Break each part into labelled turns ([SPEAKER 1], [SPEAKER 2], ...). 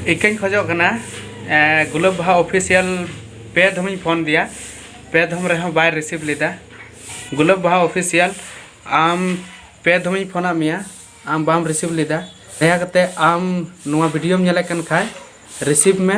[SPEAKER 1] ᱤᱠᱟᱹᱧ ᱠᱷᱚᱡᱚᱜ ᱠᱟᱱᱟ ᱜᱩᱞᱟᱹᱵ ᱵᱟᱦᱟ ᱚᱯᱷᱤᱥᱤᱭᱟᱞ ᱯᱮ ᱫᱷᱚᱢᱤᱧ ᱯᱷᱳᱱ ᱫᱮᱭᱟ ᱯᱮ ᱫᱷᱚᱢ ᱨᱮᱦᱚᱸ ᱵᱟᱭ ᱨᱤᱥᱤᱵᱷ ᱞᱮᱫᱟ ᱜᱩᱞᱟᱹᱵ ᱵᱟᱦᱟ ᱚᱯᱷᱤᱥᱤᱭᱟᱞ ᱟᱢ ᱯᱮ ᱫᱷᱚᱢᱤᱧ ᱯᱷᱳᱱᱟᱫ ᱢᱮᱭᱟ ᱟᱢ ᱵᱟᱢ ᱨᱤᱥᱤᱵᱷ ᱞᱮᱫᱟ ᱫᱟᱭᱟ ᱠᱟᱛᱮ ᱟᱢ ᱱᱚᱣᱟ ᱵᱷᱤᱰᱤᱭᱳᱢ ᱧᱮᱞᱮᱫ ᱠᱟᱱ ᱠᱷᱟᱡ ᱨᱤᱥᱤᱵᱷ ᱢᱮ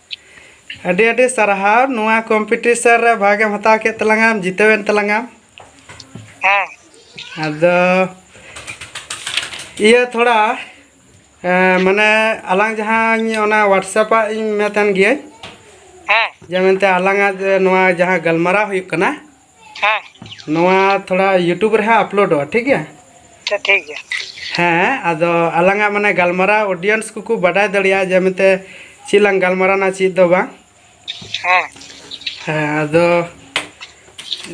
[SPEAKER 1] ᱟᱹᱰᱤ ᱟᱹᱰᱤ ᱥᱟᱨᱦᱟᱣ ᱱᱚᱣᱟ ᱠᱚᱢᱯᱤᱴᱤᱥᱚᱱ ᱨᱮ ᱵᱷᱟᱜᱮᱢ ᱦᱟᱛᱟᱣ ᱠᱮᱫ ᱛᱟᱞᱟᱝᱟ ᱡᱤᱛᱟᱹᱣᱮᱱ ᱛᱟᱞᱟᱝᱟ ᱦᱮᱸ
[SPEAKER 2] ᱟᱫᱚ
[SPEAKER 1] ᱤᱭᱟᱹ ᱛᱷᱚᱲᱟ ᱢᱟᱱᱮ ᱟᱞᱟᱝ ᱡᱟᱦᱟᱸᱧ ᱚᱱᱟ ᱦᱳᱣᱟᱴᱥᱮᱯ ᱟᱜ ᱤᱧ ᱢᱮᱛᱟᱢ ᱜᱤᱭᱟᱹᱧ ᱦᱮᱸ
[SPEAKER 2] ᱡᱮ ᱢᱮᱱᱛᱮ
[SPEAKER 1] ᱟᱞᱟᱝᱟᱜ ᱱᱚᱣᱟ ᱡᱟᱦᱟᱸ ᱜᱟᱞᱢᱟᱨᱟᱣ ᱦᱩᱭᱩᱜ ᱠᱟᱱᱟ ᱦᱮᱸ
[SPEAKER 2] ᱱᱚᱣᱟ
[SPEAKER 1] ᱛᱷᱚᱲᱟ ᱭᱩᱴᱩᱵᱽ ᱨᱮ ᱦᱟᱸᱜ ᱟᱯᱞᱳᱰᱚᱜᱼᱟ ᱴᱷᱤᱠ ᱜᱮᱭᱟ ᱟᱪᱪᱷᱟ ᱴᱷᱤᱠ
[SPEAKER 2] ᱜᱮᱭᱟ ᱦᱮᱸ ᱟᱫᱚ
[SPEAKER 1] ᱟᱞᱟᱝᱟᱜ ᱢᱟᱱᱮ ᱜᱟᱞᱢᱟᱨᱟᱣ ᱚᱰᱤᱭᱮᱱᱥ ᱠᱚᱠᱚ ᱵᱟᱰᱟᱭ ᱫᱟᱲᱮᱭᱟᱜᱼᱟ ᱡᱮ ᱢᱮᱱᱛᱮ ᱪᱮᱫ ᱞᱟᱝ ᱜᱟᱞᱢᱟᱨᱟᱣᱱᱟ ᱪᱮᱫ ᱫᱚ ᱵᱟᱝ
[SPEAKER 2] ᱦᱮᱸ ᱦᱮᱸ
[SPEAKER 1] ᱟᱫᱚ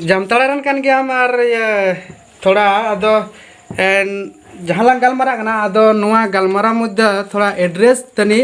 [SPEAKER 1] ᱡᱟᱢᱛᱟᱲᱟ ᱨᱮᱱ ᱠᱟᱱ ᱜᱮᱭᱟᱢ ᱟᱨ ᱤᱭᱟᱹ ᱛᱷᱚᱲᱟ ᱟᱫᱚ ᱮᱱ ᱡᱟᱦᱟᱸ ᱞᱟᱝ ᱜᱟᱞᱢᱟᱨᱟᱜ ᱠᱟᱱᱟ ᱟᱫᱚ ᱱᱚᱣᱟ ᱜᱟᱞᱢᱟᱨᱟᱣ ᱢᱚᱫᱽᱫᱷᱮ ᱛᱷᱚᱲᱟ ᱮᱰᱨᱮᱥ ᱛᱟᱹᱱᱤᱡ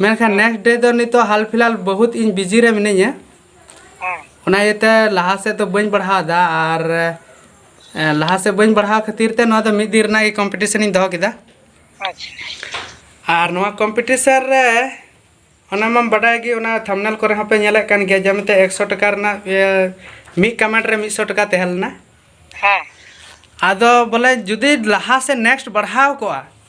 [SPEAKER 1] ᱢᱮᱱᱠᱷᱟᱱ ᱱᱮᱠᱥᱴ ᱰᱮ ᱫᱚ ᱱᱤᱛᱚᱜ ᱦᱟᱞ ᱯᱷᱤᱞᱦᱟᱞ ᱵᱚᱦᱩᱛ ᱤᱧ ᱵᱤᱡᱤ ᱨᱮ ᱢᱤᱱᱟᱹᱧᱟ
[SPEAKER 2] ᱚᱱᱟ ᱤᱭᱟᱹᱛᱮ
[SPEAKER 1] ᱞᱟᱦᱟ ᱥᱮᱫ ᱫᱚ ᱵᱟᱹᱧ ᱵᱟᱲᱦᱟᱣᱫᱟ ᱟᱨ ᱞᱟᱦᱟ ᱥᱮᱫ ᱵᱟᱹᱧ ᱵᱟᱲᱦᱟᱣ ᱠᱷᱟᱹᱛᱤᱨ ᱛᱮ ᱱᱚᱣᱟ ᱫᱚ ᱢᱤᱫ ᱫᱤᱱ ᱨᱮᱱᱟᱜ ᱜᱮ ᱠᱚᱢᱯᱤᱴᱤᱥᱚᱱ ᱤᱧ ᱫᱚᱦᱚ ᱠᱮᱫᱟ
[SPEAKER 2] ᱟᱨ ᱱᱚᱣᱟ
[SPEAKER 1] ᱠᱚᱢᱯᱤᱴᱤᱥᱚᱱ ᱨᱮ ᱚᱱᱟ ᱢᱟᱢ ᱵᱟᱰᱟᱭ ᱜᱮ ᱚᱱᱟ ᱛᱷᱟᱢᱱᱮᱞ ᱠᱚᱨᱮ ᱦᱚᱸᱯᱮ ᱧᱮᱞᱮᱫ ᱠᱟᱱ ᱜᱮᱭᱟ ᱡᱮᱢᱚᱱ ᱛᱮ ᱮᱠᱥᱚ ᱴᱟᱠᱟ ᱨᱮᱱᱟᱜ ᱢᱤᱫ ᱠᱟᱢᱮᱱᱴ ᱨᱮ ᱢᱤᱫᱥᱚ ᱴᱟᱠᱟ ᱛᱟᱦᱮᱸ ᱞᱮᱱᱟ
[SPEAKER 2] ᱟᱫᱚ
[SPEAKER 1] ᱵᱚᱞᱮ ᱡᱩᱫᱤ ᱞᱟᱦᱟ ᱥᱮᱫ ᱱᱮᱠᱥᱴ ᱵᱟᱲᱦᱟᱣ ᱠᱚᱜᱼᱟ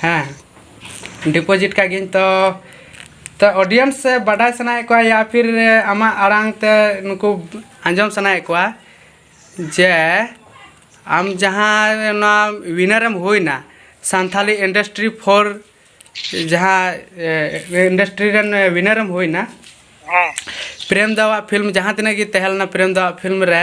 [SPEAKER 1] ᱦᱮᱸ ᱰᱤᱯᱚᱡᱤᱴ ᱠᱟᱜ ᱜᱤᱧ ᱛᱚ ᱛᱚ ᱚᱰᱤᱭᱮᱱᱥ ᱥᱮ ᱵᱟᱰᱟᱭ ᱥᱟᱱᱟᱭᱮᱫ ᱠᱚᱣᱟ ᱭᱟ ᱯᱷᱤᱨ ᱟᱢᱟᱜ ᱟᱲᱟᱝ ᱛᱮ ᱱᱩᱠᱩ ᱟᱸᱡᱚᱢ ᱥᱟᱱᱟᱭᱮᱫ ᱠᱚᱣᱟ ᱡᱮ ᱟᱢ ᱡᱟᱦᱟᱸ ᱚᱱᱟ ᱩᱭᱱᱟᱨ ᱮᱢ ᱦᱩᱭᱱᱟ ᱥᱟᱱᱛᱷᱟᱞᱤ ᱤᱱᱰᱟᱥᱴᱨᱤ ᱯᱷᱳᱨ ᱡᱟᱦᱟᱸ ᱤᱱᱰᱟᱥᱴᱨᱤ ᱨᱮᱱ ᱩᱭᱱᱟᱨ ᱮᱢ ᱦᱩᱭᱱᱟ
[SPEAKER 2] ᱯᱨᱮᱢ ᱫᱟᱣᱟᱜ
[SPEAKER 1] ᱯᱷᱤᱞᱢ ᱡᱟᱦᱟᱸ ᱛᱤᱱᱟᱹᱜ ᱜᱮ ᱛᱟᱦᱮᱸ ᱞᱮᱱᱟ ᱯᱨᱮᱢ ᱫᱟᱣᱟᱜ ᱯᱷᱤᱞᱢ ᱨᱮ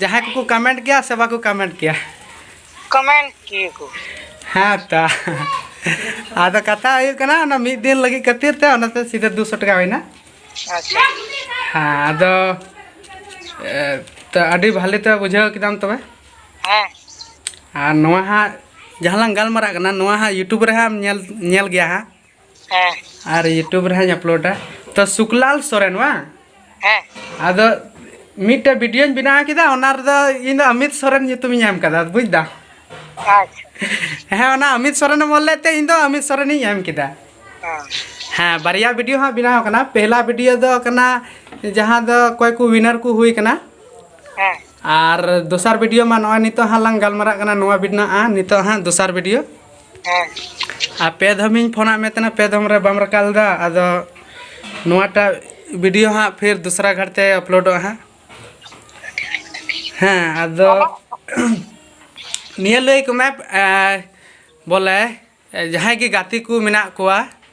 [SPEAKER 1] ᱡᱟᱦᱟᱸᱭ ᱠᱚᱠᱚ ᱠᱟᱢᱮᱱᱴ ᱜᱮᱭᱟ ᱥᱮ ᱵᱟᱠᱚ ᱠᱟᱢᱮᱱᱴ ᱜᱮᱭᱟ ᱠᱟᱢᱮᱱᱴ
[SPEAKER 2] ᱜᱮᱭᱟ ᱠᱚ ᱦᱮᱸ
[SPEAKER 1] ᱛᱚ ᱟᱫᱚ ᱠᱟᱛᱷᱟ ᱦᱩᱭᱩᱜ ᱠᱟᱱᱟ ᱚᱱᱟ ᱢᱤᱫ ᱫᱤᱱ ᱞᱟᱹᱜᱤᱫ ᱠᱷᱟᱹᱛᱤᱨ ᱛᱮ ᱚᱱᱟᱛᱮ ᱥᱤᱫᱷᱟᱹ ᱫᱩ ᱥᱚ ᱴᱟᱠᱟ ᱦᱩᱭᱱᱟ ᱟᱪᱪᱷᱟ
[SPEAKER 2] ᱦᱮᱸ
[SPEAKER 1] ᱟᱫᱚ ᱛᱚ ᱟᱹᱰᱤ ᱵᱷᱟᱞᱮ ᱛᱮ ᱵᱩᱡᱷᱟᱹᱣ ᱠᱮᱫᱟᱢ ᱛᱚᱵᱮ
[SPEAKER 2] ᱦᱮᱸ ᱟᱨ
[SPEAKER 1] ᱱᱚᱣᱟ ᱦᱟᱸᱜ ᱡᱟᱦᱟᱸ ᱞᱟᱝ ᱜᱟᱞᱢᱟᱨᱟᱜ ᱠᱟᱱᱟ ᱱᱚᱣᱟ ᱦᱟᱸᱜ ᱤᱭᱩᱴᱩᱵᱽ ᱨᱮ ᱦᱟᱸᱜ ᱧᱮᱞ ᱧᱮᱞ ᱜᱮᱭᱟ ᱦᱟᱸᱜ
[SPEAKER 2] ᱦᱮᱸ ᱟᱨ ᱤᱭᱩᱴᱩᱵᱽ
[SPEAKER 1] ᱨᱮ ᱦᱟᱸᱜ ᱟᱯᱞᱳᱰᱟ ᱛᱚ ᱥᱩᱠᱞᱟᱞ ᱥᱚᱨᱮᱱ ᱵᱟᱝ
[SPEAKER 2] ᱦᱮᱸ ᱟᱫᱚ
[SPEAKER 1] ᱢᱤᱫᱴᱮᱡ ᱵᱷᱤᱰᱤᱭᱳᱧ ᱵᱮᱱᱟᱣ ᱠᱮᱫᱟ ᱚᱱᱟ ᱨᱮᱫᱚ ᱤᱧ ᱫᱚ ᱚᱢᱤᱛ ᱥᱚᱨᱮᱱ ᱧᱩᱛᱩᱢᱤᱧ ᱮᱢ ᱠᱟᱫᱟ ᱵᱩᱡᱽ ᱫᱟᱢ ᱟᱪᱪᱷᱟ
[SPEAKER 2] ᱦᱮᱸ ᱚᱱᱟ ᱚᱢᱤᱛ
[SPEAKER 1] ᱥᱚᱨᱮᱱ ᱮᱢ ᱚᱞ ᱞᱮᱫ ᱛᱮ ᱤᱧ ᱫᱚ ᱚᱢᱤᱛ ᱥᱚᱨᱮᱱᱤᱧ ᱮᱢ ᱠᱮᱫᱟ ᱦᱮᱸ
[SPEAKER 2] ᱦᱮᱸ ᱵᱟᱨᱭᱟ
[SPEAKER 1] ᱵᱷᱤᱰᱤᱭᱳ ᱦᱟᱸᱜ ᱵᱮᱱᱟᱣ ᱠᱟᱱᱟ ᱯᱮᱦᱞᱟ ᱵᱷᱤᱰᱤᱭᱳ ᱫᱚ ᱠᱟᱱᱟ ᱡᱟᱦᱟᱸ ᱫᱚ ᱚᱠᱚᱭ ᱠᱚ ᱣᱤᱱᱟᱨ ᱠᱚ ᱦᱩᱭ ᱠᱟᱱᱟ
[SPEAKER 2] ᱦᱮᱸ ᱟᱨ
[SPEAKER 1] ᱫᱚᱥᱟᱨ ᱵᱷᱤᱰᱤᱭᱳ ᱢᱟ ᱱᱚᱜᱼᱚᱭ ᱱᱤᱛᱚᱜ ᱦᱟᱸᱜ ᱞᱟᱝ ᱜᱟᱞᱢᱟᱨᱟᱜ ᱠᱟᱱᱟ ᱱᱚᱣᱟ ᱵᱮᱱᱟᱜᱼᱟ ᱱᱤᱛᱚᱜ ᱦᱟᱸᱜ ᱫᱚᱥᱟᱨ ᱵᱷᱤᱰᱤᱭᱳ
[SPEAKER 2] ᱦᱮᱸ ᱟᱨ ᱯᱮ
[SPEAKER 1] ᱫᱷᱚᱢᱤᱧ ᱯᱷᱳᱱᱟᱫ ᱢᱮ ᱛᱟᱦᱮᱱᱟ ᱯᱮ ᱫᱷᱚᱢ ᱨᱮ ᱵᱟᱢ ᱨᱟᱠᱟᱵ ᱞᱮᱫᱟ ᱟᱫᱚ ᱱᱚᱣᱟᱴᱟᱜ ᱵᱷᱤᱰᱤᱭᱳ ᱦᱟᱸᱜ ᱯᱷᱤᱨ ᱫᱚᱥᱨᱟ ᱜᱷᱟᱴ ᱛᱮ ᱟᱯᱞᱳᱰᱚᱜᱼᱟ ᱦᱟᱸᱜ ᱦᱮᱸ ᱟᱫᱚ ᱱᱤᱭᱟᱹ ᱞᱟᱹᱭ ᱟᱠᱚ ᱢᱮ ᱵᱚᱞᱮ ᱡᱟᱦᱟᱸᱭ ᱜᱮ ᱜᱟᱛᱮ ᱠᱚ ᱢᱮᱱᱟᱜ ᱠᱚᱣᱟ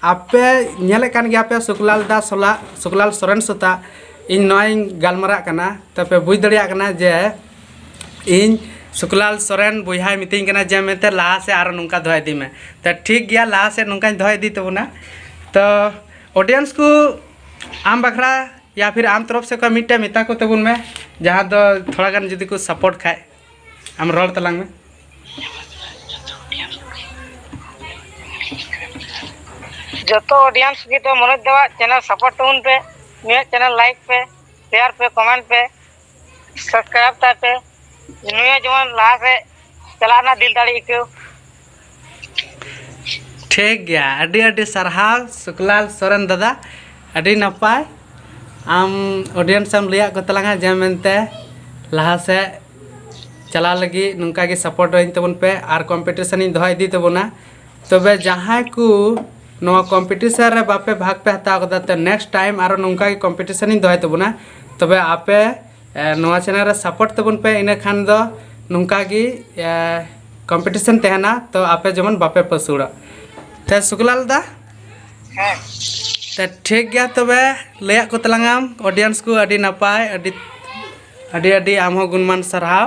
[SPEAKER 1] ᱟᱯᱮ ᱧᱮᱞᱮᱫ ᱠᱟᱱ ᱜᱮᱭᱟ ᱯᱮ ᱥᱩᱠᱞᱟᱞ ᱫᱟ ᱥᱚᱞᱟ ᱥᱩᱠᱞᱟᱞ ᱥᱚᱨᱮᱱ ᱥᱩᱛᱟ ᱤᱧ ᱱᱚᱣᱟᱧ ᱜᱟᱞᱢᱟᱨᱟᱜ ᱠᱟᱱᱟ ᱛᱟᱯᱮ ᱵᱩᱡᱽ ᱫᱟᱲᱮᱭᱟᱜ ᱠᱟᱱᱟ ᱡᱮ ᱤᱧ ᱥᱩᱠᱞᱟᱞ ᱥᱚᱨᱮᱱ ᱵᱚᱭᱦᱟᱭ ᱢᱤᱛᱟᱹᱧ ᱠᱟᱱᱟ ᱡᱮ ᱢᱮᱱᱛᱮ ᱞᱟᱦᱟ ᱥᱮᱫ ᱟᱨᱚ ᱱᱚᱝᱠᱟ ᱫᱚᱦᱚ ᱤᱫᱤ ᱢᱮ ᱛᱚ ᱴᱷᱤᱠ ᱜᱮᱭᱟ ᱞᱟᱦᱟ ᱥᱮᱫ ᱱᱚᱝᱠᱟᱧ ᱫᱚᱦᱚ ᱤᱫᱤ ᱛᱟᱵᱚᱱᱟ ᱛᱚ ᱚᱰᱤᱭᱮᱱᱥ ᱠᱚ ᱟᱢ ᱵᱟᱠᱷᱨᱟ ᱭᱟ ᱯᱷᱤᱨ ᱟᱢ ᱛᱚᱨᱚᱯᱷ ᱥᱮᱫ ᱠᱷᱚᱱ ᱢᱤᱫᱴᱮᱱ ᱢᱮᱛᱟ ᱠᱚ ᱛᱟᱵᱚᱱ ᱢᱮ ᱡᱟᱦᱟᱸ ᱫᱚ ᱛᱷᱚᱲᱟ ᱜᱟᱱ ᱡᱩᱫᱤ ᱠᱚ ᱥᱟᱯᱳᱨᱴ ᱠᱷᱟᱱ ᱟᱢ ᱨᱚᱲ ᱛᱟᱞᱟᱝ ᱢᱮ
[SPEAKER 2] ᱡᱚᱛᱚ ᱚᱰᱤᱭᱮᱱᱥ ᱜᱮ ᱫᱚ ᱢᱚᱱᱳᱡᱽ ᱫᱟᱣᱟᱜ ᱪᱮᱱᱮᱞ ᱥᱟᱯᱳᱨᱴ ᱛᱟᱵᱚᱱ ᱯᱮ ᱱᱩᱭᱟᱜ ᱪᱮᱱᱮᱞ ᱞᱟᱭᱤᱠ ᱯᱮ ᱥᱮᱭᱟᱨ ᱯᱮ ᱠᱚᱢᱮᱱᱴ ᱯᱮ ᱥᱟᱵᱥᱠᱨᱟᱭᱤᱵᱽ ᱛᱟᱭ ᱯᱮ ᱱᱩᱭᱟᱜ ᱡᱮᱢᱚᱱ ᱞᱟᱦᱟ ᱥᱮᱫ ᱪᱟᱞᱟᱜ ᱨᱮᱱᱟᱜ ᱫᱤᱞ ᱫᱟᱲᱮ ᱟᱹᱭᱠᱟᱹᱣ
[SPEAKER 1] ᱴᱷᱤᱠ ᱜᱮᱭᱟ ᱟᱹᱰᱤ ᱟᱹᱰᱤ ᱥᱟᱨᱦᱟᱣ ᱥᱩᱠᱞᱟᱞ ᱥᱚᱨᱮᱱ ᱫᱟᱫᱟ ᱟᱹᱰᱤ ᱱᱟᱯᱟᱭ ᱟᱢ ᱚᱰᱤᱭᱮᱱᱥ ᱮᱢ ᱞᱟᱹᱭᱟᱫ ᱠᱚ ᱛᱟᱞᱟᱝᱟ ᱡᱮ ᱢᱮᱱᱛᱮ ᱞᱟᱦᱟ ᱥᱮᱫ ᱪᱟᱞᱟᱣ ᱞᱟᱹᱜᱤᱫ ᱱᱚᱝᱠᱟ ᱜᱮ ᱥᱟᱯᱳᱨᱴ ᱟᱹᱧ ᱛᱟᱵᱚᱱ ᱯᱮ ᱟᱨ ᱠᱚᱢᱯᱤᱴᱤᱥᱮᱱ ᱤᱧ ᱫᱚᱦᱚ ᱤᱫᱤ ᱛᱟᱵᱚᱱᱟ ᱛᱚᱵᱮ ᱡᱟᱦᱟᱸᱭ ᱠᱚ ᱱᱚᱣᱟ ᱠᱚᱢᱯᱤᱴᱤᱥᱮᱱ ᱨᱮ ᱵᱟᱯᱮ ᱵᱷᱟᱜᱽ ᱯᱮ ᱦᱟᱛᱟᱣ ᱠᱟᱫᱟ ᱛᱚ ᱱᱮᱠᱥᱴ ᱴᱟᱭᱤᱢ ᱟᱨᱚ ᱱᱚᱝᱠᱟ ᱜᱮ ᱠᱚᱢᱯᱤᱴᱤᱥᱮᱱ ᱤᱧ ᱫᱚᱦᱚᱭ ᱛᱟᱵᱚᱱᱟ ᱛᱚᱵᱮ ᱟᱯᱮ ᱱᱚᱣᱟ ᱪᱮᱱᱮᱞ ᱨᱮ ᱥᱟᱯᱳᱨᱴ ᱛᱟᱵᱚᱱ ᱯᱮ ᱤᱱᱟᱹ ᱠᱷᱟᱱ ᱫᱚ ᱱᱚᱝᱠᱟ ᱜᱮ ᱠᱚᱢᱯᱤᱴᱤᱥᱚᱱ ᱛᱟᱦᱮᱱᱟ ᱛᱚ ᱟᱯᱮ ᱡᱮᱢᱚᱱ ᱵᱟᱯᱮ ᱯᱟᱹᱥᱩᱲᱚᱜ ᱛᱮ ᱥᱩᱠᱞᱟᱞ ᱫᱟ ᱦᱮᱸ
[SPEAKER 2] ᱛᱮ
[SPEAKER 1] ᱴᱷᱤᱠ ᱜᱮᱭᱟ ᱛᱚᱵᱮ ᱞᱟᱹᱭᱟᱜ ᱠᱚ ᱛᱟᱞᱟᱝᱟᱢ ᱚᱰᱤᱭᱮᱱᱥ ᱠᱚ ᱟᱹᱰᱤ ᱱᱟᱯᱟᱭ ᱟᱹᱰᱤ ᱟᱹᱰᱤ ᱟᱹᱰᱤ ᱟᱢ ᱦᱚᱸ ᱜᱩᱱᱢᱟᱱ ᱥᱟᱨᱦᱟᱣ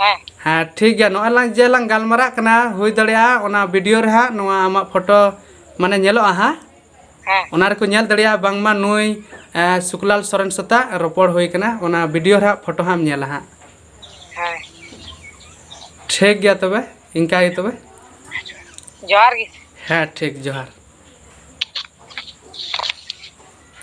[SPEAKER 1] ᱦᱮᱸ
[SPEAKER 2] ᱦᱮᱸ ᱴᱷᱤᱠ ᱜᱮᱭᱟ
[SPEAKER 1] ᱱᱚᱜᱼᱚᱭ ᱞᱟᱝ ᱡᱮ ᱞᱟᱝ ᱜᱟᱞᱢᱟᱨᱟᱜ ᱠᱟᱱᱟ ᱦᱩᱭ ᱫᱟᱲᱮᱭᱟᱜᱼᱟ ᱚᱱᱟ ᱵᱷᱤᱰᱤᱭᱳ ᱨᱮ ᱦᱟᱸᱜ ᱱᱚᱣᱟ ᱟᱢᱟᱜ ᱯᱷᱳᱴᱳ ᱢᱟᱱᱮ ᱧᱮᱞᱚᱜᱼᱟ ᱦᱟᱸᱜ ᱦᱮᱸ ᱚᱱᱟ
[SPEAKER 2] ᱨᱮᱠᱚ ᱧᱮᱞ ᱫᱟᱲᱮᱭᱟᱜᱼᱟ
[SPEAKER 1] ᱵᱟᱝᱢᱟ ᱱᱩᱭ ᱮᱸ, ᱥᱩᱠᱞᱟᱞ ᱥᱚᱨᱮᱱ ᱥᱟᱛᱟᱜ ᱨᱚᱯᱚᱲ ᱦᱩᱭ ᱠᱟᱱᱟ ᱚᱱᱟ ᱵᱷᱤᱰᱤᱭᱳ ᱨᱮ ᱦᱟᱸᱜ ᱯᱷᱳᱴᱳ ᱦᱟᱸᱜ ᱮᱢ ᱧᱮᱞᱟ ᱦᱟᱸᱜ ᱦᱮᱸ
[SPEAKER 2] ᱴᱷᱤᱠ
[SPEAKER 1] ᱜᱮᱭᱟ ᱛᱚᱵᱮ ᱤᱱᱠᱟ ᱜᱮ ᱛᱚᱵᱮ ᱡᱚᱦᱟᱨ
[SPEAKER 2] ᱜᱮ
[SPEAKER 1] ᱦᱮᱸ ᱴᱷᱤᱠ ᱡᱚᱦᱟᱨ